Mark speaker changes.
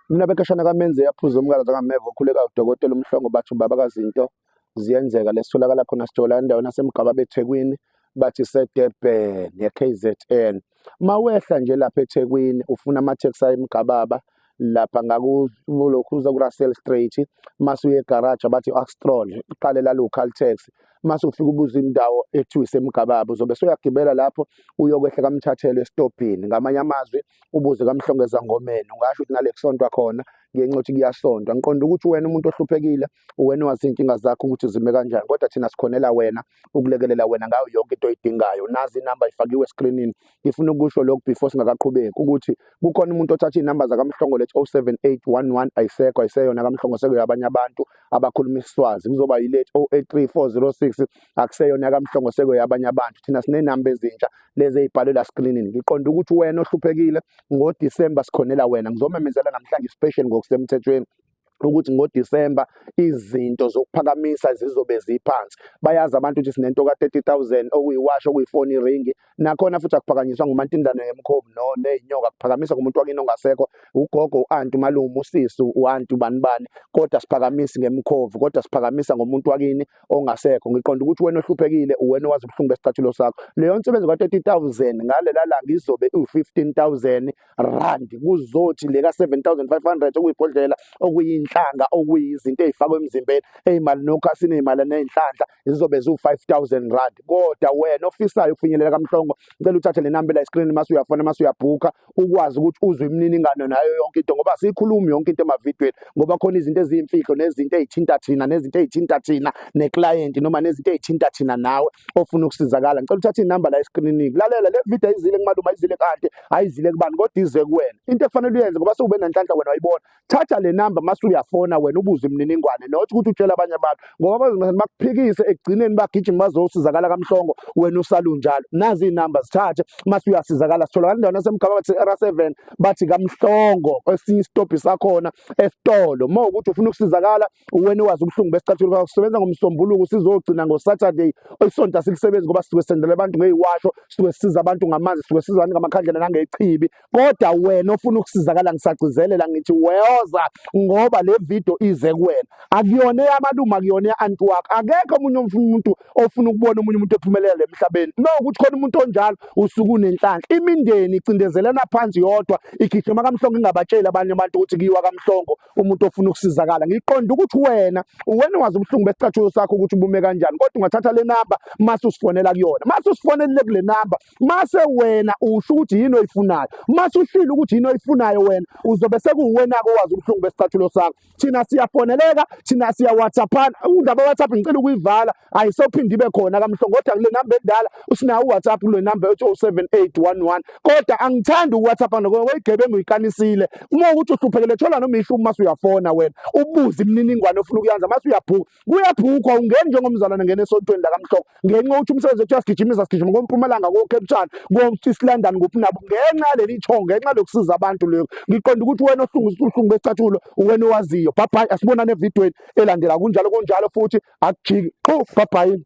Speaker 1: Mina bekashana kamenze yaphuza umkala zakameva okhuleka udokotela umhlongo bathi ubaba kazinto ziyenzeka lesitholakala khona sithola endaweni yasemgaba bethekwini bathi sedurban ye-kzn mawehla nje lapha ethekwini ufuna amatheksi ayemgababa lapha ngakulokhu uza ku-russell straight mase uye egaraji abathi u-axtron uqale lalo caltex mase ufika ubuza indawo ethiwa isemgababa uzobe soyagibela lapho uyokwehla kamthathelo esitobhini ngamanye amazwi ubuze kamhlongeza ngomeni ungasho ukuthi nale kusontwa khona ngenxa yokuthi kuyasontwa ngiqonda ukuthi wena umuntu ohluphekile uwena wazi iy'nkinga zakho ukuthi zime kanjani kodwa thina sikhonela wena ukulekelela wena ngayo yonke into oyidingayo nazi inamba ifakiwe eskrinini ngifuna ukusho lokhu before singakaqhubeki ukuthi kukhona umuntu othatha iy'namba zakamhlongo lethi 07811 ayisekho ayiseyona kamhlongo sekuyo abanye abantu abakhuluma isiswazi kuzoba yilethi 083406 akuseyona yakamhlongo sekuyabanye abantu thina sinenamba ezintsha lezi ey'bhalwe la screenini ngiqonda ukuthi wena ohluphekile ngodisemba sikhonela wena ngizomemezela namhlanje special ngokusemthethweni ukuthi ngoDisemba izinto zokuphakamisa zizobe ziphansi bayazi abantu ukuthi sinento ka 30000 okuyiwasho okuyifoni ringi nakhona futhi akuphakanyiswa ngumantindana yemkhovu no nezinyoka kuphakamisa kumuntu wakini ongasekho ugogo uanti umalume usisi uanti ubani bani kodwa siphakamisi ngemkhovu kodwa siphakamisa ngomuntu wakini ongasekho ngiqonda ukuthi wena ohluphekile uwena owazi ubuhlungu besicathulo sakho leyo nsebenzi ka 30000 ngalela langa izobe u 15000 rand kuzothi le ka 7500 okuyibhodlela okuyinhlanga okuyizinto ezifakwe emzimbeni ezimali nokho asinezimali nezinhlanhla zizobe ziwu-5000 rand kodwa wena ofisayo ukufinyelela kamhlongo ngicela uthathe le nambela eskrini mase uyafona mase uyabhukha ukwazi ukuthi uzwe imininingano nayo yonke into ngoba siyikhulumi yonke into emavidweni ngoba khona izinto eziyimfihlo nezinto ey'thinta thina nezinto ey'thinta thina neklayenti noma nezinto ey'thinta thina nawe ofuna ukusizakala ngicela uthathe inamba la eskrinini lalela le video ayizile kumaluma ayizile kade ayizile kubani kodwa ize kuwena into efanele uyenze ngoba sewube nanhlanhla wena wayibona thatha le namba mase uyafona wena ubuze imininingwane not ukuthi utshela abanye abantu ngoba bazongase bakuphikise ekugcineni bagijima bazosizakala kamhlongo wena usalunjalo nazi iy'namba zithathe mase uyasizakala sitholakala indawo nasemgaba bathi era seven bathi kamhlongo esinye isitobhi sakhona esitolo uma ukuthi ufuna ukusizakala wena wazi ubuhlungu besicathulo bakho sisebenza ngomsombuluko sizogcina ngosaturday isonto asilisebenzi ngoba sisuke sendela abantu ngeyiwasho sisuke sisiza abantu ngamanzi sisuke siza abantu ngamakhandlela nangechibi kodwa wena ofuna ukusizakala ngisagcizelela ngithi weyoza ngoba le video ize kuwena akuyona eyamalume akuyona ya-anti wakho akekho omunye umuntu ofuna ukubona omunye umuntu ephumelela emhlabeni nokuthi khona umuntu onjalo usuke unenhlanhla imindeni icindezelana phansi yodwa igijima kamhlongo ingabatsheli abanye abantu ukuthi kuyiwa kamhlongo umuntu ofuna ukusizakala ngiqonda ukuthi wena uwena wazi ubuhlungu besicathulo sakho ukuthi ubume kanjani kodwa ungathatha le namba mase usifonela kuyona mase usifonelile kule namba mase wena usho ukuthi yini oyifunayo mase ushilo ukuthi yini oyifunayo wena uzobe sekuwena-ke owazi ubuhlungu besicathulo sakho thina siyafoneleka thina siyawhatsaphana undaba whatsapp ngicela ukuyivala ayisophinde ibe khona kamhlongoda kule namba endala usinawo uwhatsapp kule namba ethi 07811 kodwa angithandi uwhatsapp ngoba weyigebengu uyikanisile uma ukuthi uhluphekele thola noma ishu uma usuyafona wena ubuze imininingwane ofuna ukuyenza mase uyabhuka kuyabhukwa ungeni njengomzalwane ngena esontweni lakamhloko ngenxa yokuthi umsebenzi wethu uyasigijimisa sigijima kompumalanga kocape town koeast london kuphi nabo ngenxa yaleli thongo ngenxa lokusiza abantu leyo ngiqonda ukuthi wena ohlungisa uhlungu besicathulo wena owaziyo bhabhayi asibonane evidweni elandela kunjalo kunjalo futhi akujiki qhu bhabhayini